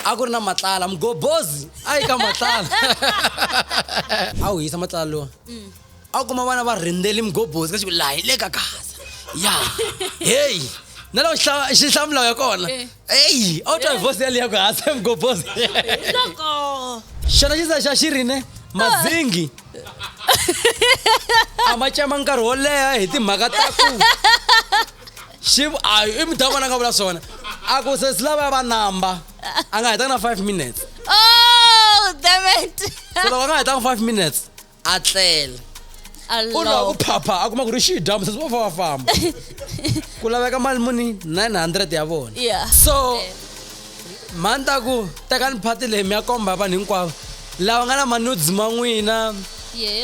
a ku ri na matlala mgobozi a yi ka matlala a wu hisa matlala lowa a wu kuma vana va rindzeli mgobozi ka xiku laha hi le ka gaza ya heyi na loko xihlamulawu ya kona eyi auto vosi yali yako hase mgobozi Loko. xana xi za xa xi ri ne madzingi a ma cema nkarhi wo leha hi timhaka ta ku xi a i mudhawu vona a nga vula swona a ku se silava ya va namba a nga hetanga na five minutes Oh, damn it. se loko a nga hetanga five minutes a tlela u lava ku phapha a kuma ku ri xi dya musesi va fa va famba ku laveka mali muni 900 ya vona so mhani ta ku tekani phati leyi mi ya komba vanhu hinkwavo lava nga na manudes ma n'wina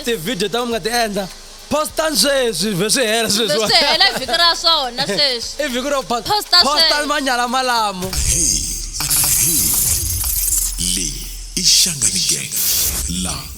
tivhidiyo ta mi nga ti endla postan sweswi vhe swi hela sweswihela vhiki ra swona sweswi i vhiki ro postan manyala malamo leyi i xanganigen la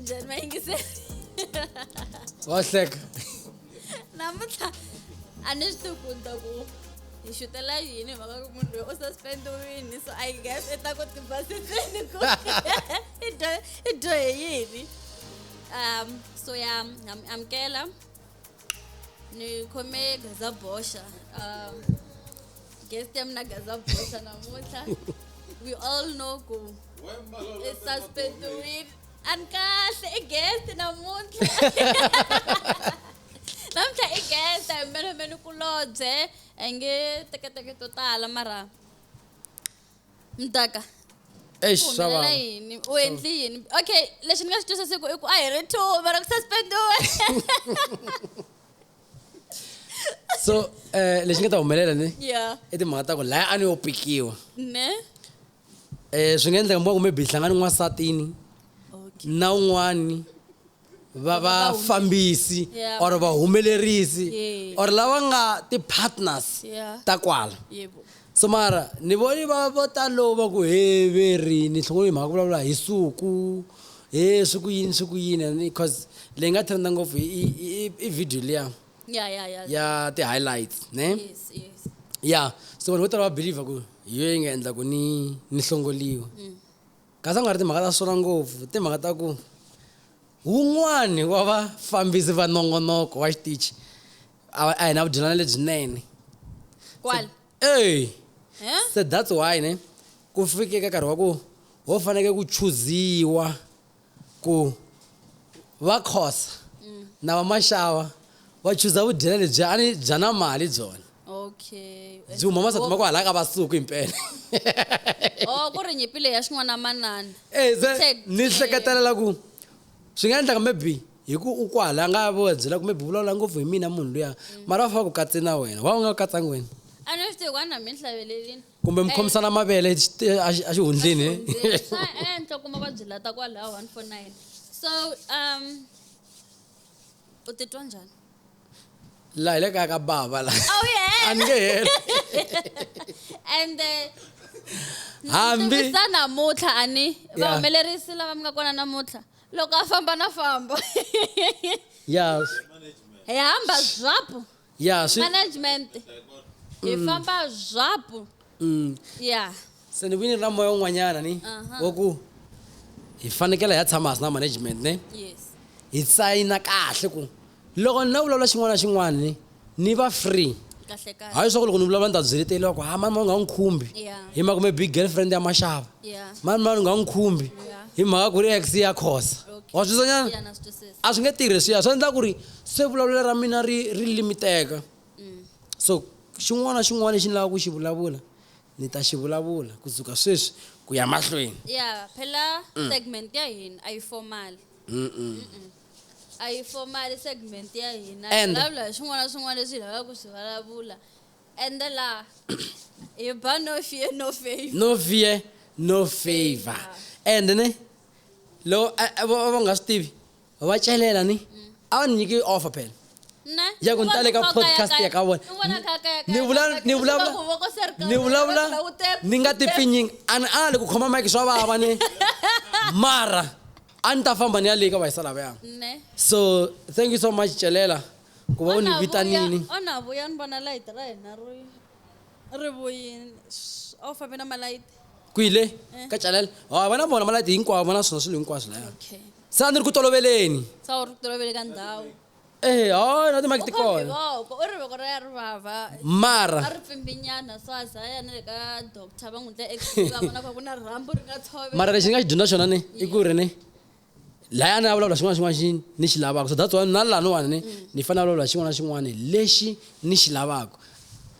njhani mayingiseli wa hleka namuntlha a ni swi tivi ku ni ta ku hi xutela yini hi mhaka ku munhu loyi u suspendiwini so i guess i ta ku tibasisini ku i dyo- i dyohe yini um so ya ham- amukela ni khome gaza boxa um, guest ya mina gaza boxa namuntlha we all know ku i suspendiwile a ni kahle i guest namuntlha namuntlha i guest a hi mbelemeni kulobye a hi nge teketeke to tala mara mtaka Eish, swa humelela vava. yini u endli yini okay lexi ni nga xi twisisiku i ku a hi ri two mara ku suspendiwe so eh lexi nga ta humelela ni ya i timhaka ta ku laya a ni yo pikiwa ne eh swi nga endleka mboku maybe hlangani n'wansatini na un'wani va Va- va- vafambisi Yeah. or vahumelerisi Yeah. or lava nga ti-partners Yeah. ta kwala yebo so mara ni voni va vo talo va ku heveri ni hlongo hi mhaka ku vulavula hi suku he swi ku yini swi ku yini and because leyi nga trenda ngopfu i- i- i- i video liya ya ya ya ya ti-highlights ne yes yes ya so vanhu vo tala va believer ku hi yo yi nga endla ku ni ni hlongoliwa Kasi a ku nga ri timhaka ta swona ngopfu, timhaka ta ku wun'wani wa vafambisi va nongonoko wa xitichi a a hi na vudyelana lebyinene. Kwala. Ey! He? Se that's why ne ku fike ka nkarhi wa ku ho faneke ku chuziwa ku va Khosa na va Mashava wa chuza vudyela lebyi a ni bya na mali byona okay byi huma masati ma ku halaka va suku impela oh ku ri nyipi leyi ya xin'wana manana eh ze Tshek- ni hleketelela ku swi nga endlaka maybe hi ku u kwala a nga vo byela ku maybe vulavula ngopfu hi mina munhu luya mara va faka ku katse na wena wa u nga katsangi wena a ni swi tivi ku a ni hambi ni hlavelelini kumbe mi khomisana mavele xi- a xi- a xihundleni eh? swa endla kuma va byi lata kwalaho one four nine so um u titwa njhani laha hi le kaya ka bava la a wu ye a ni nge heli and eh, hambi tivisa namuntlha ani Yeah. vahumelerisi lava mi nga kona namuntlha loko a famba na famba yes hi hamba zwapu ya swi management hi mm. famba zvapu mm. ya se ni vini ra moya un'wanyana ni wa ku hi fanekele hi ya tshama hasi na management ne hi sayina kahle ku loko ni na vulavula xin'wana na xin'wana ni ni va free hayi swa ku loko ni vulavula ni ta byeleteliwa ku ha mani mani u nga n'wi khumbi hi mhaka kumbe big girlfriend ya maxava mani mani u nga n'wi khumbi hi mhaka ku ri ex ya khosa wa swi twisanyana a swi nge tirhi swiya swi endla ku ri Se vulavulelo ra mina ri ri limiteka. So xin'wana na xin'wana lexi ni lavaka ku xi vulavula, ni ta xi vulavula ku suka sweswi ku ya mahlweni. Ya phela segment ya hina a yi formal. A yi formal segment ya hina. Hi And- vulavula hi swin'wana na swin'wana leswi hi lavaka ku swi vulavula. Ende laha hi ba no fear no favour. No fear, no favor. And ne, loko a- a- vo- va nga swi tivi, va celela ni a va ni nyiki offer phela ya ku ni tale ka podcast ya ka vona ni vulavula ni vulavula ni vulavula ni nga ti pfinyingi a ni ali ku khoma mike swa vava ni mara a ni ta famba ni ya leyi ka vahisa lavaya so thank you so much celela ku va u ni vitanini onavuya ni vona layiti ra hina ri ri vuyini o fambe na malayiti kwile eh. ka celela ha va na vona malayiti hinkwavo va na swona swilo hinkwaswo laya sa ni ri ku toloveleni sa u ri tolovele ka ndhawu ehe hayi na timaki ti u khome kona voko u ri voko ra ya ri vava a mara ri pfimbinyana so a za a ya na le ka doctor va n'wi ndla x-ray va vona ka ku na rhambu ri nga tshove mara lexi ni nga xi dyondza xona ni i ku ri ni laya ni ya vulavula xin'wana na xin'wana xi ni xi lavaka so that's why na laniwani ni ni fanele vulavula xin'wana na xin'wana lexi ni xi lavaka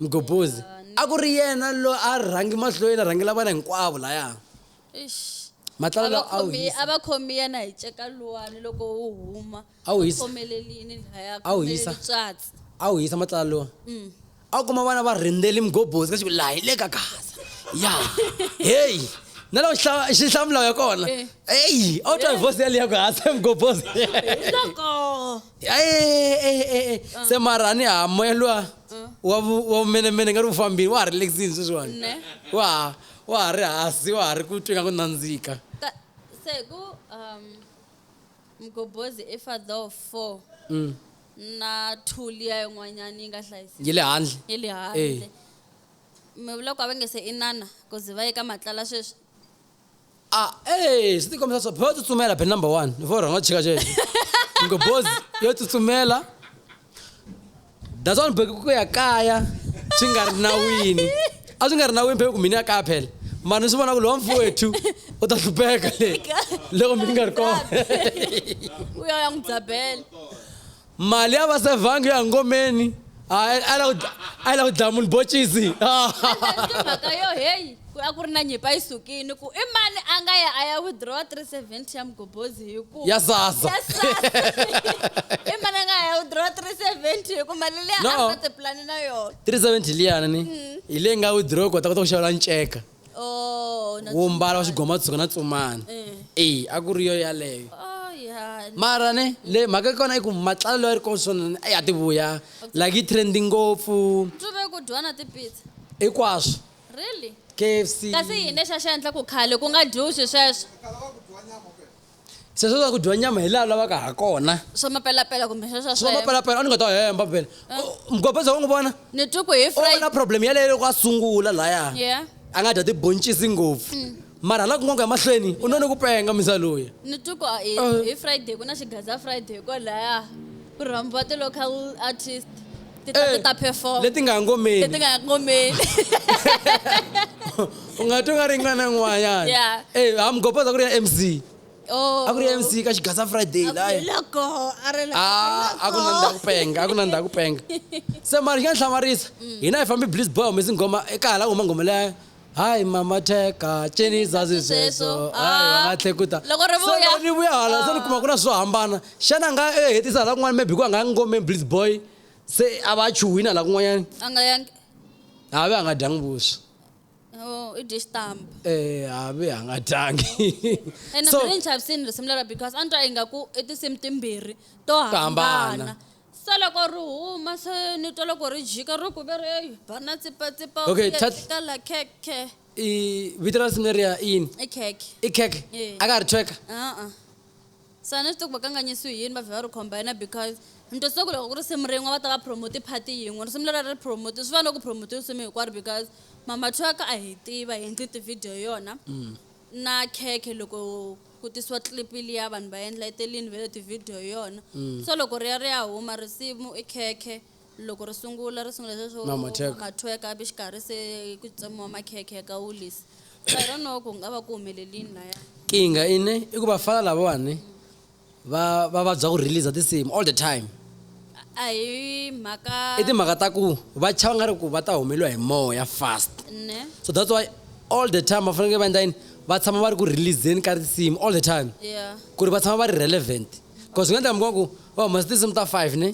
mgobozi a ku ri yena lo a rhangi mahlweni a rhangela vana hinkwavo laya Eish. Matlala lawa a wu Avakhomi- hisa. avakhomi yena hi ceka luwani loko wu huma A wu hisa. khomelelini laya A wu hisa. tswatsi a wu hisa matlala lowa a wu kuma vana va rindzeli mgobozi ka xiku laha hi le ka gaza ya heyi na loko xihla- xihlamulawu ya kona Eh. eyi a wu twa hi vosi yaliya ku hasa mgobozi hiloko e se mara a ni ha moya luwa wa vu- wa vumenemene nga ri wu fambile wa ha ri lexini sweswiwani Ne. wa ha wa ha ri hansi wa ha ri ku twi nga ku nandzika ka se ku um mgobozi i father of four Mm. na two liya yin'wanyana yi nga hlayiseki yi le handle yi le Eh. handle mi vula ku a va nge se inana ku ze va ye ka matlala sweswi Ah, eh, swi tikomisa swa boyo tsutsumela ben number one ni fo rhanga chika cheke ngo boz yo tsutsumela that's one bheki ku ya kaya swi nga ri nawini a swi nga ri nawini bheki ku mina ya kaya phela mara ni swi vona ku lowa mfowethu u ta hlupheka le loko mi nga ri kona uya ya n'wi dzabela mali ya va sevhangi ya ngomeni hayi a lava ku dla- a lava ku dlaya munhu bocisi mhaka yo heyi ku a ku ri na nyipa yi sukini ku i mani a nga ya a ya withdraw 370 ya mugobhozi hi ku Ya sasa. Ya sasa. i mani a nga ya withdraw 370 hi ku mali leyi a No. nga tipulani na yona 370 liyani ni hi leyi nga withdraw kota kota ku xavela nceka oh, wo mbala wa xigomatsuka na tsumani e a ku ri yo yaleyo oh, mara ne le mhaka kona i ku matlala loyi a ri kona swona a ya ti vuya like yi trendi ngopfu hinkwaswo really kfc kasi yini lexi a xi endla ku khale ku nga dyiwi swi sweswo sweswo swa ku dyiwa nyama hi laha lavaka ha kona swa mapelapela kumbe sweswo swa sweswo mapelapela a ni nga ta hemba vhele mgobeza wa n'wi vona ni twi ku hi u na friday problem yaleyo loko a sungula laya Yeah. a nga dya tiboncisi ngopfu mara hala kun'wana ku ya mahlweni u none ku penga misa loyi ni twi ku a- hi Eh. hi friday ku na xigaza friday kwalaya ku rhambiwa ti-local artist ti ta ti ta perform leti nga ha ngomeni leti nga ha ngomeni u nga twi nga ri n'wana n'wanyana yeah. hey, eh, hamgopoza ku ri ya mc oh. a ku ri ya mc ka xigasa friday layaloko ah, a ku na ndha ku penga a ku na ndha ku penga se mari xi nga ni hlamarisa mm. hina hi fambi bliss boy humesi nghoma eka hala ku huma nghoma leya hayi mama cheka cini zazi sweswo hayi va nga tlhekuta Loko ri vuya. Se ri vuya hala se ni kuma ku na swo hambana xana a nga e hetisa hala kun'wana maybe ku a nga ya ngomeni blitz boy se a va a chuhwini hala kun'wanyani a nga yangi havi a nga dyangi vuswa Oh, i dye xitampa um havi a nga dyangi ene so ni ni chavisini risimu lera because a ni twa ingaku i tinsimu timbirhi to hambana hambana. Se loko ri huma, se ni twa loko ri jika, ri ku, Vereyu, ba na tsipa-tsipa, Okay, u ya tats- eka la khekhe. I vito ra nsimu leriya i yini? I khekhe. I khekhe. Yeah. A ka ha ri thweka. A-a. Se a ni swi tivi ku va kanganyisiwe hi yini, va vhela va ri combine-a because ni twisisa ku loko ku ri nsimu rin'we va ta va promote-i part-i yin'we. Risimu leriya a ri promote-iwi, swi fana na ku promote-iwa nsimu hinkwaro because Mama Thweka a hi yi tiva, hi endli ti-video hi yona, na khekhe loko ku tisiwa clip liya vanhu va endla etelini ve le tivhidiyo hi yona so loko ri ya ri ya huma risimu i khekhe loko ri sungula ri sungula sweswo Na matheka. mathweka ivi xikarhi se ku tsemiwa makhekhe ya ka wulisi so i don't know ku nga va ku humelelini laya kinga ine i ku vafana lavawani va va vabya ku release tinsimu all the time a hi mhaka i timhaka ta ku va chava nga ri ku va ta humeliwa hi moya fast ne so that's why all the time va fanekele va endla yini va tshama va ri ku releaseni ka risimu all the time yeah ku ri va tshama va ri relevant because swi nga endla mi kuma ku va humesa tinsimu ta five ne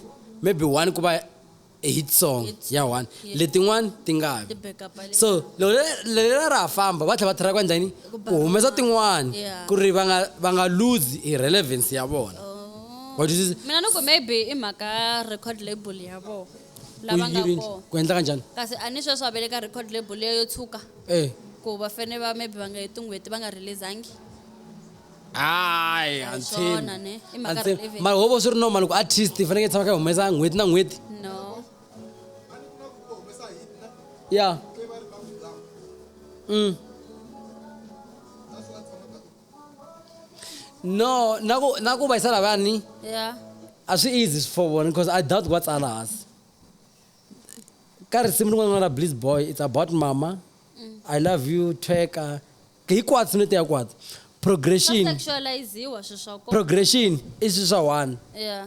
maybe one ku va a hit song Hit song, ya one yeah. letin'wani ti nga vi ti backup le so loko le- leri ra ha famba va tlhela va tlhela va endla yini ku humesa tin'wana Yeah. ku ri va nga va nga lose hi relevance ya vona Oh. Wa twisisa? mina ni ku maybe i mhaka record label ya vona Ku lava nga yiri- kona ku endla kanjani kasi a ni sweswi a ve le ka record label leyo yo tshuka Eh. ku va fane va maybe va nga heti n'hweti va nga releasangi hayi a ni swona tshembi. ne i A mhaka ni tshembi. relevant mara ho vo swi ri normal ku artist i fanekele tshama kha yi humesa n'hweti na n'hweti no ya mm. no naku naku vayisela vani ya a swi easy swi for vona because i doubt va tsala hansi ka risimu rin'wana ra bliss boy it's about mama mm. i love you tweka hikwatsi no tiya kwatsi progression sexualiziwa sweswo progression i swi swa one yeah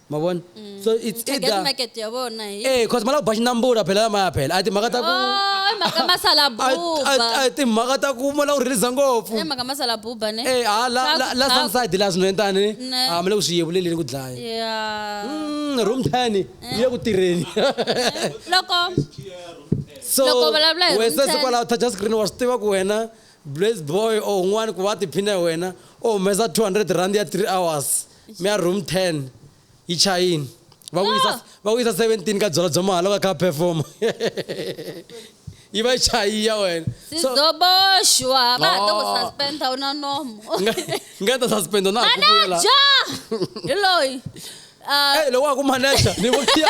mavona so it's target either market ya vona hi eh cause malabo ba xinambula phela lamaya phela a timhaka ta ku Oh, i mhaka a- a- masalabuba a timhaka ta ku mala u release ngopfu i mhaka masalabuba ne eh ha la la la Thaku, sunside la swinene tani Ne. a mala ku swi yevuleleni ku dlaya yeah Mm, room tani yi ya ku tirheni loko so Loko u vulavula hi room wesesi ten. kwalaho touch screen wa swi tiva ku wena blaze boy or un'wana ku va tiphina hi wena u humesa 200 rand ya 3 hours mya room 10 yi chayini va ku yisa va ku yisa 17 ka byona bya mahala ka ka perform yi va yi chayi ya wena so sizoboshwa va ha to ku Oh. suspenda u na nomo nga nga ta suspend na ha ku vuyela manaja hi loyi Ah, eh loko wa ku manager ni vuya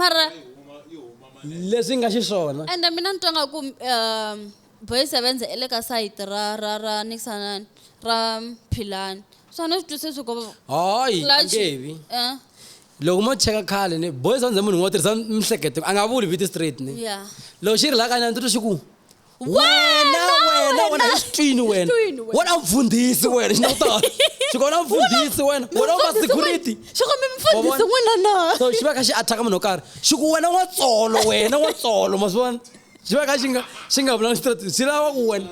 mara leswi nga xiswona ende mina ni twa nga ku um boy sevenze i le ka sayiti ra ra ra nikisanani ra philani swa ni swi twisisi ku hayi Clutch. angevi eh, loko mo cheka khale ni boys andze munhu un'we u tirhisa mihleketo a nga vuli viti straight ni ya loko xi ri la kanyana ndzi twa xi ku wena wena wena hi xitwini wena Xitwini wena. wena mfundhisi wena xi nawutala xikona mfundhisi wena wena wa security xikombe Wa mfundhisi vona? n'wana na so xi va kha xi attack munhu wo karhi xi ku wena wa tsolo wena wa tsolo ma swi vona xi va kha xi nga xi nga vulangi straight xi lava ku wena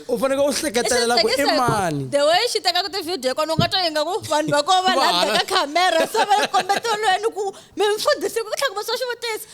u fanekele u hleketelela ku i mani the way xi tekaka tivhidiyo kona u nga twa yi nga ku vanhu va kova va Va landa hala. ka khamera se va kombeteliweni ku mi mfundhisi ku tlhaka va swa xivutiso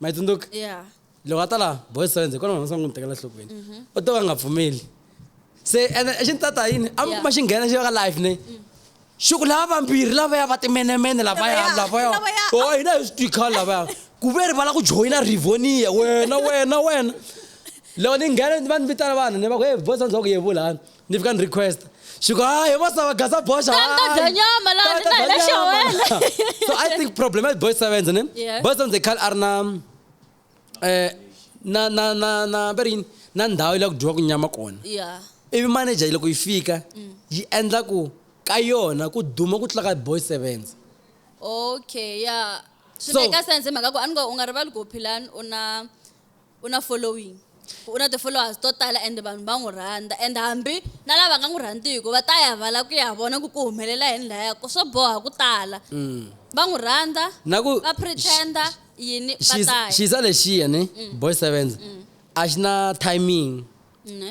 ma yi tsundzuka yeah loko a ta laha boys friends hikwalaho masangu n'wi tekela nhlokweni u to ka a nga pfumeli se ene xi ni tata yini a mi Yeah. kuma xi nghena xi va ka life ne xi ku lava vambirhi lavaya va timenemene lavaya Lavaya, lavaya lavaya. o hina hi swi twikhala lavaya ku ve ri vala ku joyina rivonia wena wena wena loko ni nghena va ni vitana vanhu ni va ku hey boys friends wa ku yevulani ni fika ni request she go hayi vo sava gasa boy xawaanyama so i think problem ya boy seven ne boy seven they call a ri na eh, na na na na va ri yini na ndhawu yi la ku dyiwa ku nyama kona ivi manager yi loko yi fika mm. yi endla ku ka yona ku duma ku tlula ka boy sevens okay ya swi make sense mhaka ku a ni ngo u nga rivali ku philani u na u na following, u na ti-followers to tala and vanhu va n'wi rhandza and hambi na lava nga n'wi rhandziku va ta ya va la ku ya vona ku ku humelela yini laya ku swo boha ku tala mm. va n'wi rhandza na ku va pretender yini va ta ya xiza lexiya ne mm. boy sevens mm. a xi na timing ne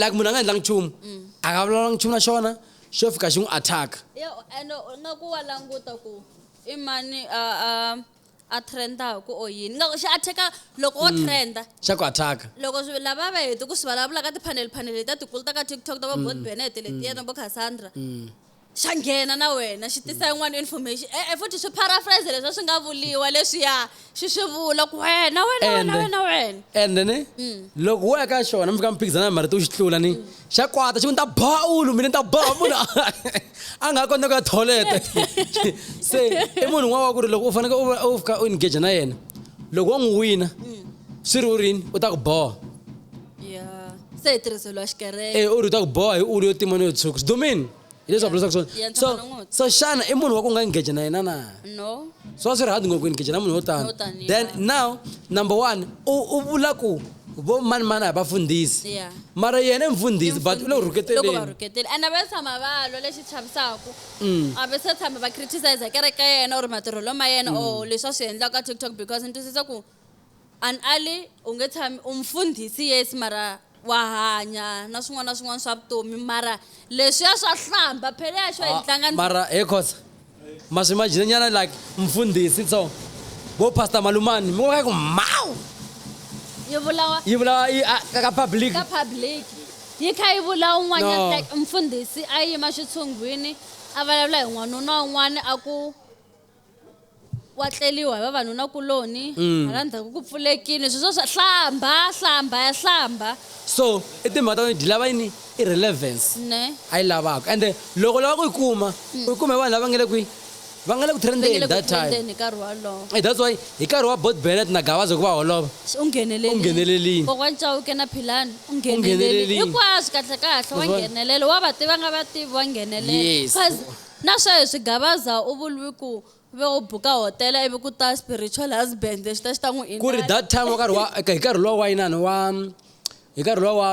like munhu a nga endlangi nchumu mm. a nga vulavula nchumu na xona xo fika xi n'wi attack and nga ku wa languta ku i mani a trendaku or yini nga xi attacka loko wo mm. trenda xa ku attacka loko lava va heti ku swi vulavula ka ti-panel panel leti ta tikulu ta ka tiktok ta va mm. bot benet letiya na vo cassandra xa nghena na wena xi tisa yin'wana information e-e futhi swi paraphrase leswi a swi nga vuliwa leswiya xi swi vula ku wena wena wena Ende- wena wena and then Mm. loko wo ya ka xona mi fika mi phikizana hi marito u xi tlula ni Mm. xa kwata xi ku ni ta ba ulu mina ni ta ba munhu a- a nga ha kota ku ya tholete se i munhu un'wana wa ku ri loko u fanekele u va- u fika u engage na yena loko wo n'wi wina Mm. swi ri u rini u ta ku boha ya se hi tirhiseliwa xikereke Eh, u ri u ta ku boha hi ulu yo tima ni yo tshuka swidomeni hileswaku leswaku swona Yeah, so ntshambana n'woti. so xana i munhu wa ku nga engage na yena na no swa swi ri hard ngopfu ku engage na munhu wo tani Wo tani, then yeah. now number one u u vula ku vo mani mani a hi vafundhisi Yeah. mara yena i mfundhisi but u le ku loko va rhuketeleni rhuketeli and a va tshama va lwa lexi chavisaka Mm. a va se tshama va criticize kereke ya yena or matirhelo ma yena or leswi a swi endlaka ka tiktok because ni twisisa ku An Ali, u nge tshami u mfundhisi yes mara wa hanya na swin'wana na swin'wana swa vutomi mara leswiya swa hlamba phela ya xo hi tlanga ni Mara he Khoza ma swi imagine nyana like mfundhisi so vo Pastor Malumani mi vona ku mhawu yi vulawa yi vulawa yi a- ka ka public. ka public yi kha yi vula un'wanyana No. like mfundhisi a yima xitshunghwini a vulavula hi n'wanuna un'wana a ku kwatleliwa hi vavanunakuloni mm. hala ndzhaku ku pfulekile sweswo swa hlamba hlamba ya hlamba so i timhaka ta wena lava yini i relevance ne a yi lavaka ende loko lava ku yi kuma mm. u yi kuma hi vanhu lava nga le kwihi va nga le ku trendeni that time eh, that's why hi nkarhi wa bot benet na gavaza ku va holova u nghenelelini kokwana cawuke na philani u nghenelelini hinkwaswo kahle kahle wa nghenelela wa va tiva nga va tivi wa nghenelela Na sweswi Gabaza u vulwi ku ve u buka hotela ivi ku ta spiritual husband lexi ta xi ta n'wi Ku ri that time wa nkarhi wa hi nkarhi luwa wa inani wa hi nkarhi luwa wa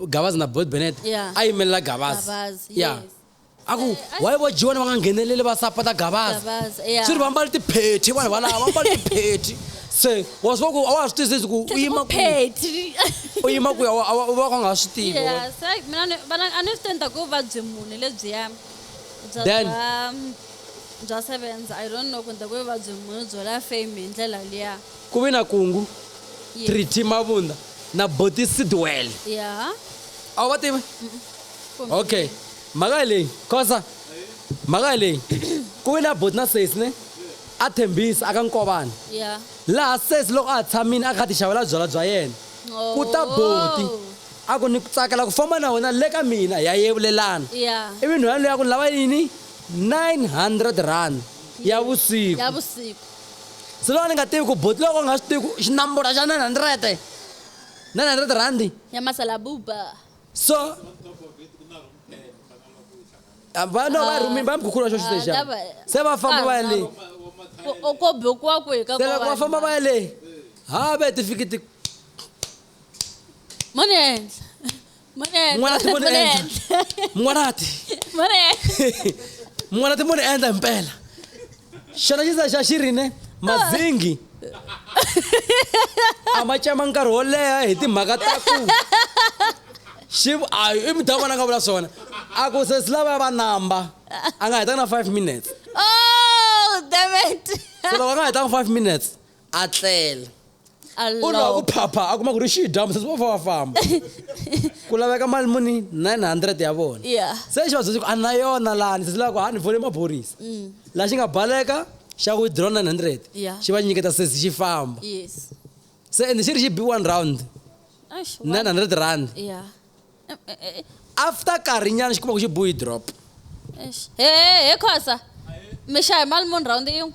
Gabaza na Boyd Bennett Yeah. a yimelela Gabaza Gabaza, ya yes. a ku why vo G1 va nga ngheneleli va sapota Gabaza Gabaza, yeah. swi ri va mbale tiphethe vanhu valava va mbale tiphethe se wa swi vona ku a wa ha swi twisisi ku u yima ku Phetri. u yima ku ya wa- a wa- u va ka u nga ha swi tivi Yeah, se mina ni- vana a ni swi tenda ku vabye mune lebyiya bya Then- bya bya sevenza i don't know kumbe ku vuvabyi munhu byo la fame hi ndlela liya ku vi na kungu Ye- triti mavunda na boti sidwele ya a wu va tivi kumbe- okay mhaka hi leyi khosa mhaka hi leyi ku vi na boti na sesi ne a thembisi aka nkovana ya laha sesi loko a ha tshamile a kha a ti xavela byala bya yena ku ta boti A ku, Ni ku tsakela ku famba na wena le ka mina. Hi ya yevulelana. Ya. Ivi nhwanyana loyi a ku, Ni lava yini? 900 rand ya vusiku. Ya vusiku. Se loko a ni nga tivi ku buti loko a nga swi tivi ku xinambura xa 900, 900 rhandi. Ya masalabuba. So, a va no va rhumile, va mi khukhuriwa xo xi Ah, lexiya. lava- Se va famba va ya le. Ko- ko bokiwa kwihi ka Se loko va famba va ya le, ha ve ti fiki ti. mani endla mani endla N'wana ti mani mani endla. endla mun'wanati mani endla mun'wana ti muni endla himpela xona xisa xa xi ri ne mazingi a ma cema nkarhi wo leha hi timhaka ta ku xi a i mudya vona nga vula swona a ku se si lava ya va namba a nga hetanga na five minutes oh damn it se loko a nga hetanga five minutes a tlela u lava ku phapha a kuma ku ri xidyambu sesi va fa va famba ku laveka mali muni 900 ya vona se xi va byelsi ku a na yona lani sesi lava ku ha ni fole maphorisa mm. laha xi nga baleka xa ku withdraw 900 xi va nyiketa sesi xi famba se ende xi ri xi b one round 900 rand after karhi nyana xi kuma ku xi buyi drop Eish. he he he khosa mi xahe mali muni rhawundi yin'we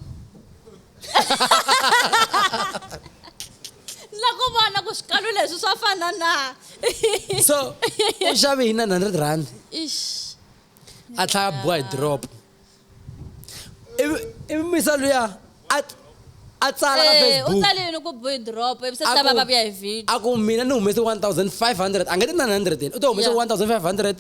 la ku vona ku swikalu leswi swa fana na so u xave hi 900 rand ish a tlhaya buyi drop ivi ivi misa luya a a tsala ka Eh, u facebook tsale yini ku boy drop ivi se A ta va ku- va vuya hi video a ku mina ni humese 1500 a nge ti 900 yena u to humese Yeah. Mm. 1500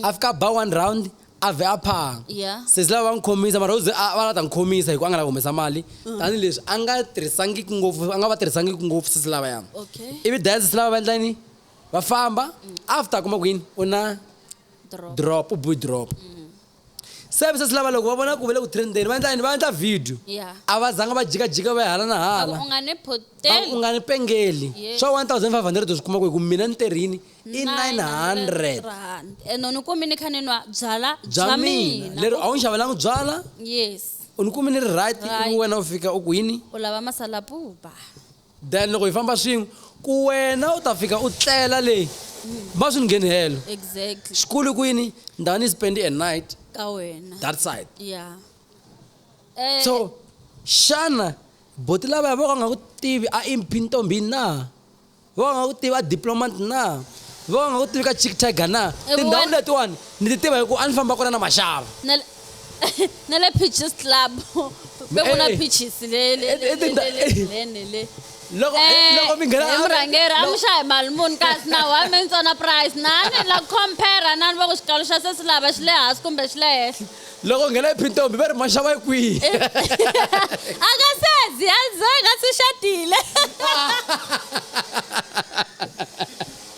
a fika a ba one round a vhe a phanga Yeah. sesi lava va n'wi khomisa mara u ze a- va la ta n'wi khomisa hikuva a nga la humesa mali Mm. tanihileswi a nga tirhisangiki ngopfu a nga va tirhisangiki ngopfu sesi lava ya okay ivi daya sesi lava va endla yini va famba after a kuma ku yini u na drop drop u boy drop Services lava loko va vona ku ve le ku trendeni va endla yini va endla video ya a va zanga va jikajika va ya hala na va ku hala u nga ni va ku u poteli nga ni pengeli Yes. swa 1500 u swi kuma ku hi ku mina ni tirhini i 900 rand ene ni kumi ni kha ni nwa byala bya bya mina mina lero a wu ni xavelanga byala yes u ni kumi ni ri right Right. ivi wena u fika u ku yini u lava masalapupa Then loko hi famba swin'we ku wena u ta fika u tlela le ma swi ni ngheni helo exactly xikulu kwini ndhawu ni spend a night ka wena that side yeah eh, so xana boti lavaya vo ka nga ku tivi a imphi ntombi na vo ka nga ku tivi a diplomat na vo ka nga ku tivi ka chick tiger na Eh, tindhawu wena- letiwani ni ti tiva hi ku a ni famba kona na maxava na- na le peaches club be ku na Hey. peaches le le- Eh, le- eh, tinda- le- le- le- le- le. loko eh, Eh, loko mi nghena he murhangeri a mi loko- xahi mali muni kasi na wa mi ntsona price na ni la compare na ni va ku xikalo xa se si lava xi le hansi kumbe xi le henhla loko u nghena ephintombi va ri maxava yi kwihi a ka sezi a ze ka si xatile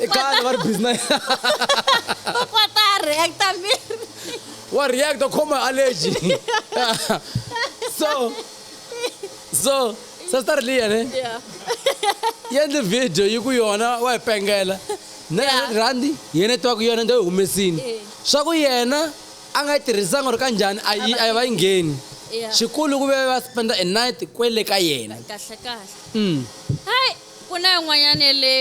E ka ni va ri busy na u kota a reacta miri wa reacta khoma allergy so so sister liya ne yi endle video yi ku yona wa yi pengela na rhandi yena twa ku yona ndo yi humesini swa ku yena a nga yi tirhisanga or ka njhani a yi a yi va yi ngheni xikulu ku ve va spenda a night kwele ka yena kahle kahle mm. Ku na yin'wanyana ya le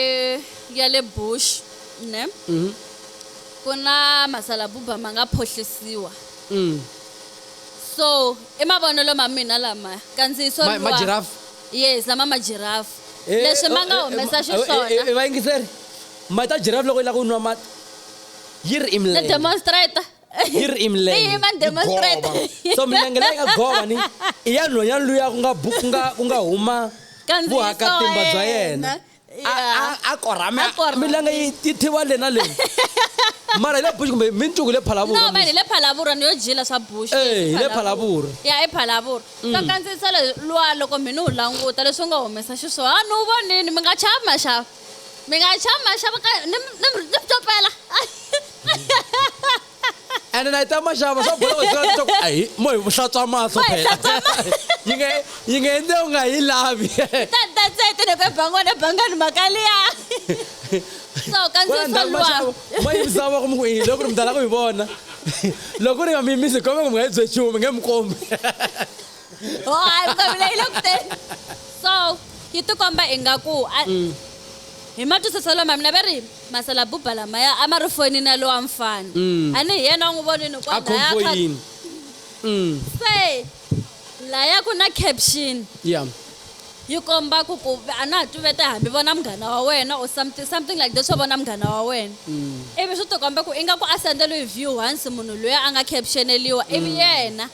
ya le Bush ne ku na masalabuba ma nga phohlisiwa so i mavonelo ma mina lama kandziyiso Ma- luwa- majirafu? yes lama majirafu Eh, leswi ma oh, nga eh, humesa eh, eh, eh, xiswona vayingiseri mati ya jirafu loko yi lava ku nwa mati yi ri ni imlele demonstrator yi ri i milenge Yi yima yi demonstrate. gova. so milenge leyi nga gova ni i ya nhonyani luya ku nga bu- ku nga ku nga huma Kandziyisa vuhakatimba wa bya yena yena. A- Yeah. a- a korhame A korhame. milenge yi yi thiwa le na le mara hi le bush kumbe mincuku hi le phalavura no mani hi le phalavura ni yo dyila swa bush Eh, hi le Phalavura. ya i phalavura Mm. ka kandziyisa le- luwa loko mi ni wu languta leswi u nga humesa xiswona a ni wu vonini mi nga chava maxava mi nga chama xava ka ni mi- ni mi ni mi copela ene na yi ta maxava swa bola wena swi leswaku ayi mo hi vuhlatswa mahlo Mo hi phela hlantswa mahlo. yi nga yi nga endle u nga yi lavi ta ta tsete ni ku ebangwana ebangani mhaka liya so Kwala kandziyisa ndhawu luwa maxavo ma yimisa voko mi ku yini loko ri mi tala ku yi vona loko ri nga mi yimisi kombe ku mi nga yi byechumi nge mi kombi ho hayi vutomi leyi le kuteni so yi tikomba ingaku mm. hi matwisiselo ma mina va ri masala buba lamaya a ma ri fonini ya lowa mfana mm. a ni hi yena u n'wi vonini kwalayaini mm. se laya ku na caption yeah yi komba ku ku a na ha tuvete hambi vona munghana wa wena or something, something like that swo vona munghana wa wena mm. ivi swi tikomba ku ingaku a sendeliwe view once munhu loyi a nga captioneliwa ivi mm. yena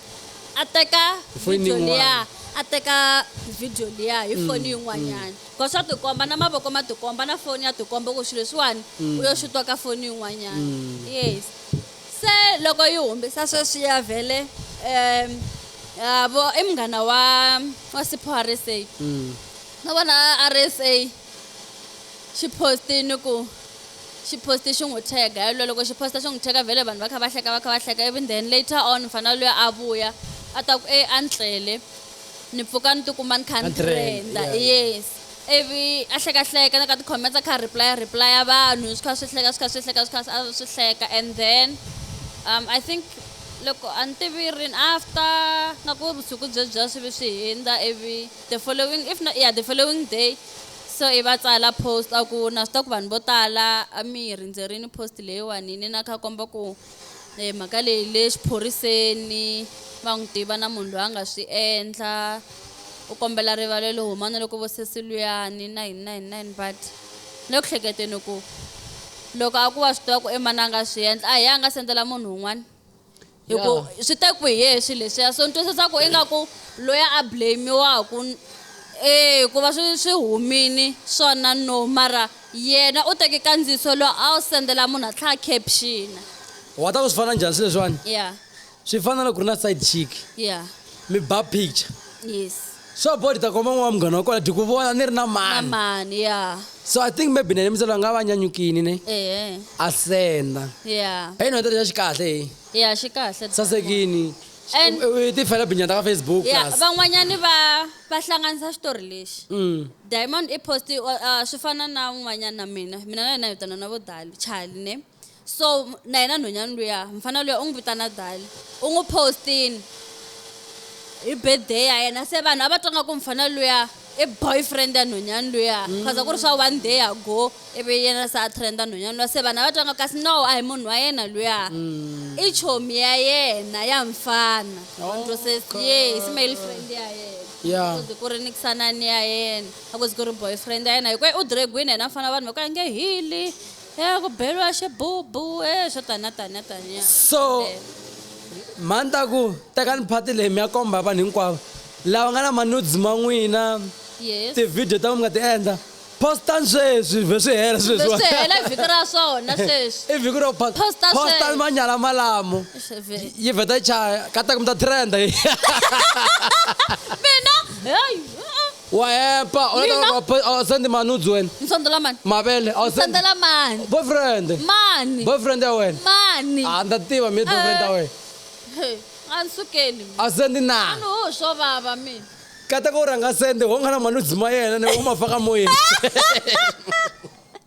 a teka video liya a teka video liya hi mm, foni yin'wanyana because mm. swa tikomba na mavoko ma tikomba na foni ya tikomba ku swilo leswiwani mm. u yo xutwa ka foni yin'wanyana yes se loko yi humesa sweswi ya vhele um yabo i munghana wa wa sipho rsa no vona rsa xi post-i ni ku xi post-i xi n'wi tag-a yalwe loko xi post-a xi n'wi tag-a vhele vanhu va kha va hleka va kha va hleka ivi then later on mfana luya a vuya a ta ku e a ni tlele ni pfuka ni tikuma ni kha ni trenda yes ivi a hlekahleka na ka ti-comments a kha a replya replya vanhu swi kha swi hleka swi kha swi hleka swi kha swi hleka and then um i think loko a ni tivi rini after nga ku vusiku byebyiya swi vi swi hindza ivi The following if not yeah the following day so i va tsala post a ku na swi ta ku vanhu vo tala a mi yi rindzerini post leyiwani ni na kha komba ku eh, mhaka leyi le xiphoriseni va n'wi tiva na munhu loyi a nga swi endla u kombela rivalelo huma na loko vo sesi luyani na yini na yini na yini but le ku hleketeni ku loko a ku wa swi tiva ku i mani a nga swi endla a hi a nga sendela munhu un'wana hi ku Yeah. swi te ku hi yehe swilo leswiya so ni twisisa ku ingaku loyi a blamiwaku e ku va swi swi humini swona no mara yena u teke kandziyiso loyi a wu sendela munhu a tlhela a captiona wa ta ku swi fana njhani swilo leswiwani ya swi fana na ku ri na side chick ya mi ba picture yes swa border koma n'wana wa munghana wa kona dikuvona ni ri na mani mani ya so i think maybe nene mitsalo nga va nyanyukini ne ehe a senda ya hey no tata xi kahle hey ya xi kahle sasekini And- U- u ti fela binyata ka facebook ya plus van'wanyani va va hlanganisa xitori lexi Mm. diamond i post uh, swi fana na un'wanyana na mina mina na yena hi vitana na vo dali chali ne so na yena nhonyani luya mfana luya u n'wi vitana dali u n'wi postini hi birthday ya yena se vanhu a va twa nga ku mfana luya i boyfriend ya nhonyani luya khaza mm. ku ri swa one day ago ivi yena se a trenda nhonyani luya se vanhu a va twa nga kasi no a hi munhu wa yena luya mm. i chomi ya yena ya mfana onto se yes male friend ya yena yeah. kuze ku ri ni kusanani ya yena a kuze ku ri boyfriend ya yena hikuva u dragwini yena mfana vanhu va ku a nge hili Eh ku beriwa xibubu eh swo taniya taniya taniya. So mhani ta ku tekani phati leyi mi ya komba vanhu hinkwavo lava nga na manudes ma n'wina Yes. tivhidiyo ta n'wina mi nga ti endla postani sweswi vhe swi hela swilo Vhe swi leswiwani. hela vhiki ra swona sweswi. i vhiki ro post- Posta postani sweswi. manyala malamo Eish, vhe- yi vheta yi chaya ka ta ku mi ta trenda Mina hey. wa hepa u lava Mina? loko pa- a sandi mani u dzweni Nsondo la mani? mavele a sandi Nsondo la mani? boyfriend Mani? boyfriend ya wena Mani? a ndza tiva mi boyfriend ya Eh. wena Hey, a ni sukeli. a sandi A na ni ho swo vava mina. kata ku rhanga sende wo nga na mani u dzima yena ni wo ma faka moyeni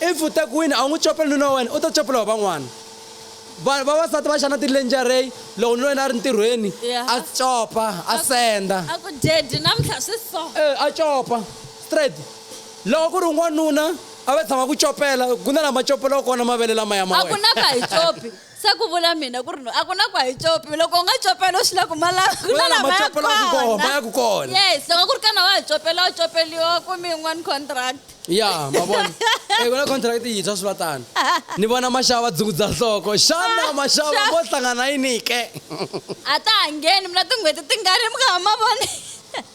If u te ku wini a wu n'wi copeli nuna wa wena u ta copela wa van'wana. Va, vavasati va xana tilenjarey loko nuna wa yena a ri ntirhweni Yeah. a copa a Aku- senda. Aku daddy namuntlha swi so. E, a copa straight. Loko ku ri un'wanuna a va tshama ku copela ku na lama copelaka kona mavele lamaya ma A ku wena. na ka hi copi. se ku vula mina ku ri no a ku na ku a yi copi loko u nga copela u swi la ku malava ku na lama ya kona kona yes loko ku ri kana wa ha copela u copeliwa kumbe yin'wani contract ya ma vona e ku na contract yintshwa swi va tani ni vona maxava va dzungudza nhloko xana ah, maxava mo hlangana yini ke a ta ha ngheni mina tin'hweti ti nga ri mi nga ha ma voni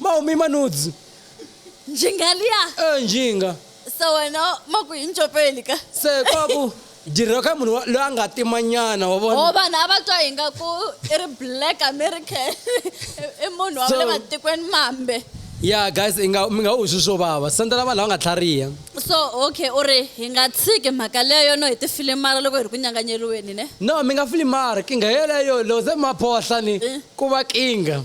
mahumi manudzi njingaliya e njinga se wena ma ku hi ncopeli ka se kwaku dirheriwa ka munhu loyi a nga timanyana wa vona o vanhu a va twa hi nga ku i ri black american i munhu wa le matikweni mambe ya guys i nga mi nga u swi swo vava sandzela vanhu lava nga tlhariha so okay u ri hi nga tshiki mhaka leyo no hi tifilimara loko hi ri ku nyanganyeriweni ne no mi nga filimari kinga yeleyo loko se maphohla ni eh. ku va kinga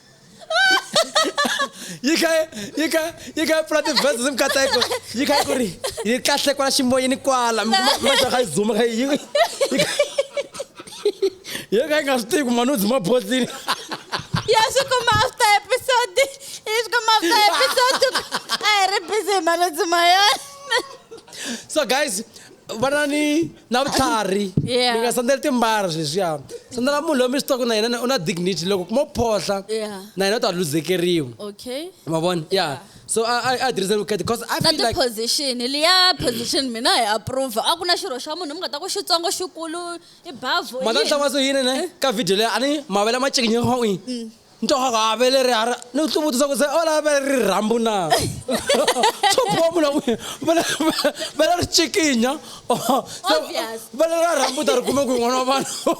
yi kha yi kha yi kha pfula tivhesi zi mikateko yi kha yi ku ri yi kahle kwala ximoyeni kwala maxa kha yi zuma kha yi yi kha yi nga swi tivi ku mani u dzima botlini ya swi kuma after episode yi swi kuma after episode a hi ri busy hi mani u dzima yona so guys va na ni na vutlhari Yeah. mi nga sandzeli timbara swilo leswiya sandzela munhu loyi mi swi tivaka na yena u na dignity loko mo phohla Yeah. na yena u ta luzekeriwa okay ma vona ya so a a- a tirhisa vukati because i na feel like tiposition liya position mina hi approve a ku na xirho xa munhu mi nga ta ku xitsongo xikulu i bavo mata yini? tlanga so yini ne ka video leyi a ni mavele ma cekinyekho'i ntohaka a ve leri a ri ni ku hluvutisa ku se o lava ve ri rhambu na swo boha munhu wa n'wina va le- va- va le ri cikinya Obvious. va le ra rhambu u ta ri kuma ku i n'wana wa vanhu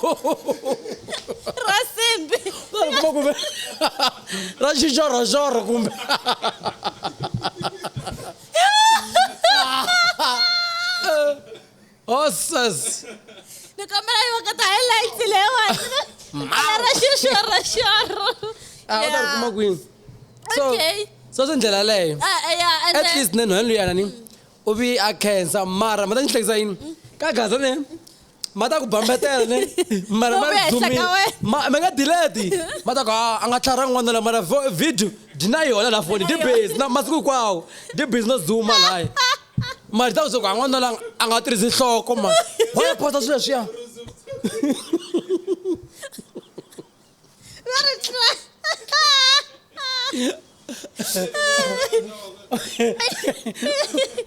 ra simbi u ta ri kuma ku ve ra xixorhoxorho kumbe Osas. Ni kombela yi vakata highlights leyiwani. Ra xixo ra xorro. Ah, u ta ri kuma kwini? So, Okay. so swi ndlela leyo. Ah, eh, yeah, and At then- least nenu henlu yana ni. U vi a khensa mara ma ta ni hlekisa yini? Ka gaza ne. Ma ta ku bambetela ne. Mara ma Lomu ehenhla dzumi. ka wena. Ma ma nga delete. Ma ta ku ah, a nga tlhara n'wana la mara vo- video dyi na yona la foni. Di busy na masiku kwawo. Di busy no zuma laya. mali ta kusuka n'wanuna la a nga tirhisi nhloko ma wa ya phasa swilo leswiya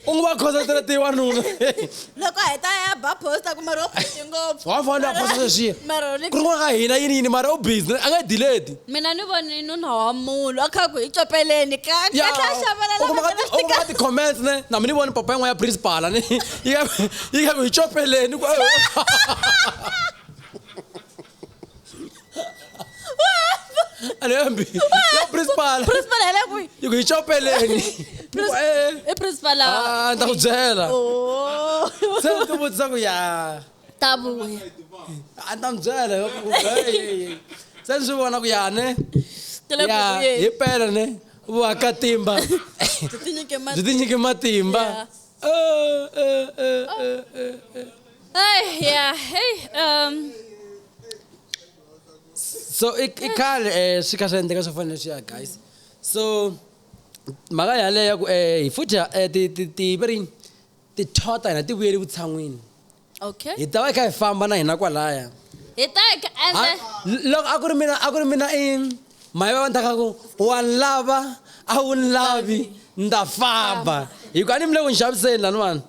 u n'wi va khosatela ti wanuna loko hi ta ya ba posta ku mari wo busy ngopfu wa fanele a phasa sweswiya Mara u le- ku ri n'wana ka hina yini yini mara u busy a nga dileti mina ni vone nuna wa munhu a kha ku hi copeleni kani a tlha xavela lava nga na xikandza ka ti-comments ne na mi ni voni papa yin'wana ya principala ni yi ka yi ka ku hi copeleni ku a ni yambi ya principala principal hi le kwihi yi ku hi copeleni Prince- Eh, i principal ah, ni ta ku byela Oh. se ni ti vutisa ku ya ta vuya a ta n'wi byela se ni swi vona ku ya ne ya hi pele ne vakatimba byi tinyike matimba so i khale um swi kha swi endleka swo fanele swi ya guys so mhaka yaleyo ya ku um hi futhi um ti ti ti va rini tithoho ta hina ti vuyeli vutshan'wini okay hi ta va hi kha hi famba na hina kwalaya hi ta hi kha- ende Ha- l- loko a ku ri mina a ku ri mina i maye va ndaka ku wa ni lava a wu ni lavi nda famba hikuva a ni mi le ku ni xaviseni lani vanhu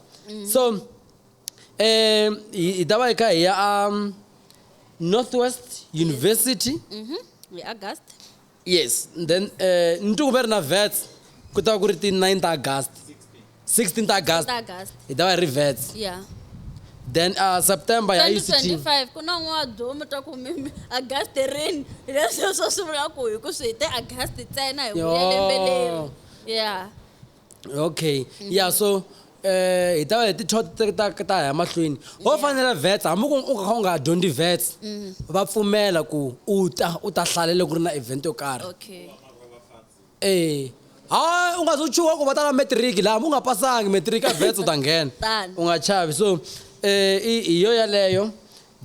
so um hi hi ta va hi kha hi ya a northwest university hi august Yes and then eh ni twi ku ve ri na vets ku ta va ku ri ti 9 ta August 16 ta August Ta August. hi ta va hi ri vets yeah then uh, September ya yi 16 2025 ku na un'we wa duma ta ku mi- august rini leswi swo swi vula ku hi ku swi hi te august ntsena hi vuya lembe leri Yo. ya okay ya yeah, so eh hi ta va hi tithot ta ta ya mahlweni ho fanela vets hambi ku u kha u nga dyondzi vets mm. va pfumela ku u ta u ta hlalele ku ri na event yo karhi okay eh hayi u nga se chuha ku va ta na matric laha mu nga pasangi matric a vets u ta nghena u nga chavi so eh i yo yaleyo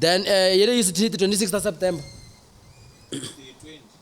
then eh yele yi sithi 26 ta september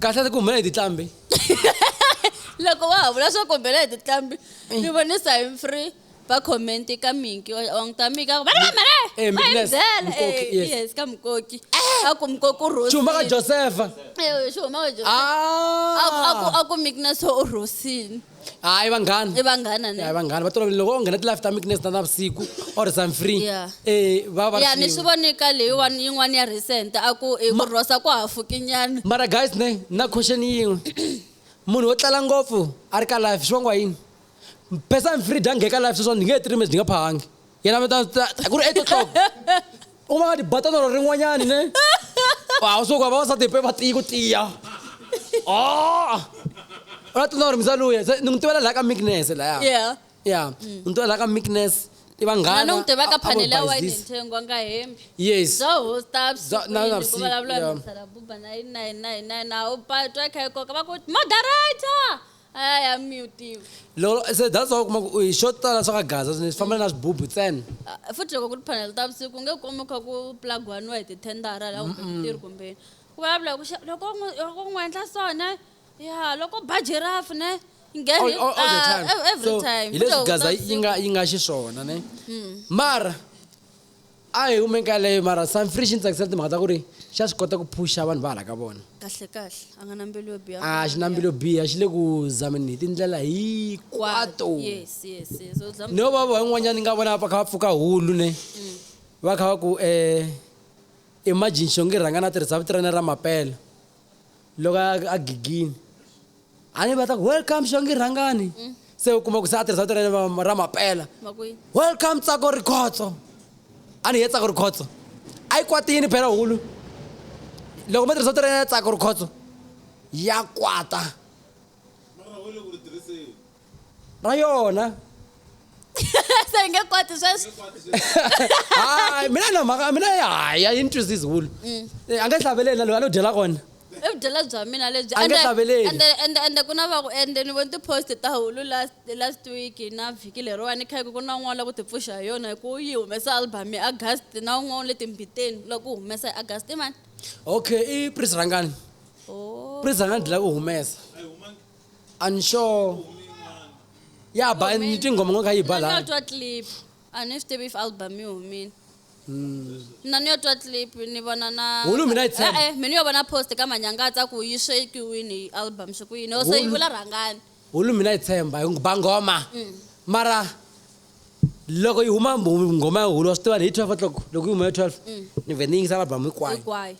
kahlata ku humelela hi titlambi loko wa ha vula swo kombela hi titlambi eh. ni vone sign free va comment ka minki wa n'wi ta mika va ri vamale eh, va hi byela eh, yes ka mukoki a ku mukoki u rhosile xihuma ka josefa xihuma ka josefa ah. a ku miki na swo u rhosile hayi vanghana i vanghana hayi ne vanghana va tolovele loko o nghena ti-life ta mikines ta navusiku or some free Yeah. eh, va va ya ni swi swin'we. vone ka leyiwani yin'wani ya recent a ku i ku rhosa ku hafukinyana mara guys ne na question yin'we munhu wo tlala ngopfu a ri ka life swi vangiwa yini person free dya nge ka life sweswani ni nge he tiri mesi ni nga phahangi yena va ta ta- ta- ku ri etotloko u va nga tibata tolo rin'wanyani ne a wu suka vavasati pe va tiyi ku tiya Oh! u la tsundza ku ri misaluya se ni n'wi tivela laha ka meekness laya yeah ya ni tivela laha ka meekness i vanghana na n'wi tivaka a- a vo phanele ya wayini bayizisa. nthengo a nga hembi yes bya hosta Bya- na- na vusiku, yeah. vusivulavula buba na yini na yini na yini na yini a wu patwa yi kha yi koka va ku moderator Hayi, a mi wu tivi. Lolo, se that's why u kuma ku u hi xo tala swa ka gaza swinene swi famba na swibubu ntsena Ah, futhi loko ku ri phanele ta vusiku u nge kumi kha ku plagwaniwa hi tithendara la kumbe switirhi kumbe yini ku vulavula hi ku xa loko u n'wi- loko u n'wi endla so ne ya loko ba jirafu ne yi nghena all, hi- all, all the ah, time ev- every so time hi Futhi leswi loko ku ri gaza ta yi nga vusiku. yi nga xiswona ne mara a hi hume ka leyo mara sanfri xi ni tsakisela timhaka ta ku ri xa swi kota ku phuxa vanhu va hala ka vona kahle kahle a nga na mbilu yo biha a xi na mbilu yo biha xi le ku zameni hi tindlela hinkwato no va va yin'wanyana ni nga vona va kha va pfuka hulu ne mm. va kha va ku um imagine xongi rhanga na tirhisa vitirana ra mapela loko a a gigini a ni va ta ku welcome xongi rhangani se u kuma ku se a tirhisa vito ra yena va- ra mapela Makwini. welcome tsako rikhotso a ni ye tsako rikhotso a yi kwatini phela hulu loko mo tirhisa vito ra yena ya tsako rikhotso ya kwata na yona se hi nge koti sweswi hayi mina na mhaka mina hayi a yi ni twisi zulu Mm. Eh, a nge hlaveleli na loyi a lo dyela kona i vudyela bya mina lebyi A nge Ende- hlaveleli. ende- ende- ende ku na va ku ende ni voni ti-post ta hulu last, last week na vhiki leriwani kha ku ku na un'wana la ku tipfuxa hi yona hi ku u yi humesa album ya august na un'wana u le timbiteni loko ku humesa hi august i mani okay i pris rangani Oh. pris rangani dlaka u humesa I'm sure. Ya ba ni tinghoma ngo kha yi ba la. Twa clip. A ni swi tivi if album yi humile. Hmm. Na ni yo twa clip ni vona na Hulu mina itse. Eh eh mina yo vona post ka manyangatsa ku yi shekiwini album swi ku yini. Ose yi vula rhangani. Hulu mina itsemba hi ba ngoma. Hmm. Mara loko yi huma ngoma ya hulu wa swi tiva hi 12 o'clock loko yi huma ya 12 hmm. ni vhe ni yingisa album hinkwayo. Hinkwayo.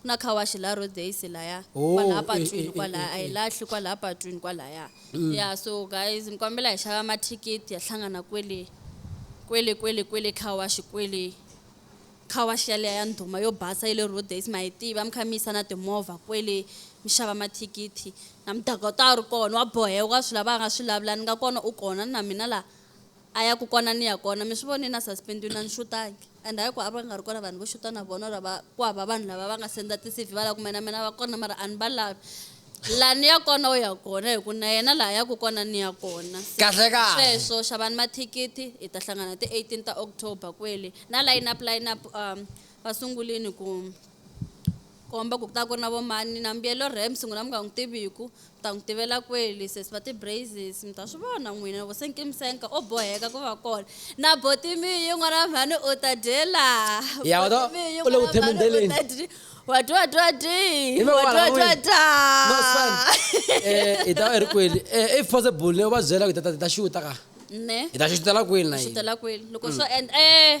Ku na car wash laha Rhodes laya Oh, kwalaya eh, patwini eh, eh, kwalaya eh, a yi eh. lahli kwalaya patwini kwalaya ya so guys ni kombela hi xava mathikithi ya hlangana kwele kwele kwele kwele car wash kwele car wash yaleya ya ndhuma yo basa ya le Rhodes ma yi tiva mi kha mi yisa na timovha kwele mi xava mathikithi na mudaka u ta a ri kona wa boheka u nga swi lava a nga swi lavula ni nga kona u kona ni na mina laha A ya ku kona ni ya kona mi swi vone na suspendiwe na ni xutangi and hayi ku a va nga ri kona vanhu vo xuta na vona or va ku hava vanhu lava va nga senda ti CV va la ku me na mina va kona mara a ni va lavi la ni ya kona u ya kona hi ku na yena laha ya ku kona ni ya kona Se, Kahle kahle. sweswo xavani mathikithi hi ta hlangana ti 18 ta October kwele na line up line up um va sungulini ku komba ku ku ta ku ri na vo mani na mbuyelo rams n'wina mi nga n'wi tiviku mi ta n'wi tivela kweli sesi va ti-braises mi ta swi vona n'wina na vo senkimsenka o boheka ku va kona na botimiyi n'wana mhani u ta dyela Ya, wa ta- Botimiyi u le ku n'wana mhani u themendheleni. ta dyi- wa dyi wa dyi wa dyi Hi lo wa dyi wa wala dyi wa n'wini. dya No, son. Eh, hi ta va hi ri kweli Eh, if possible ni va byela ku hi ta- ta- hi ta xuta ka ne hi ta xutela kweli na hi yini xutela kweli loko swo endla eh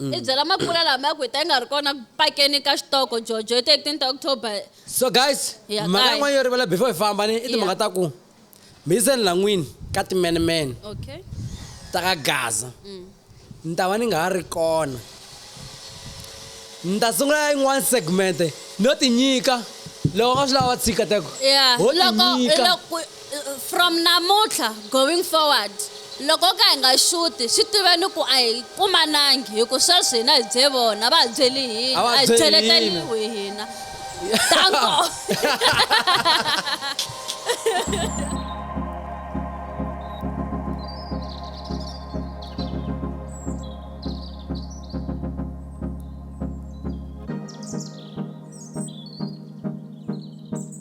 Mm. i byela makula lama ya ku hi ta yi nga ri kona ku pakeni ka xitoko jojo hi 13 october so guys Yeah, mhaka guys. yin'wana yo rivala before hi famba ni i timhaka ta ku mi yiseni lan'wini ka timenemene okay ta ka gaza Mm. ni ta va ni nga ha ri kona ni ta sungula yin'wana segmente no tinyika loko nga swi lava va tshika teko yeah ho loko tinyika loko From namuntlha going forward, loko ho ka hi nga xuti, swi tiveni ku a hi kumanangi hi ku sweswi hina hi bye vona, va hi byeli hina, a hi cheleteriwi hina. Danko!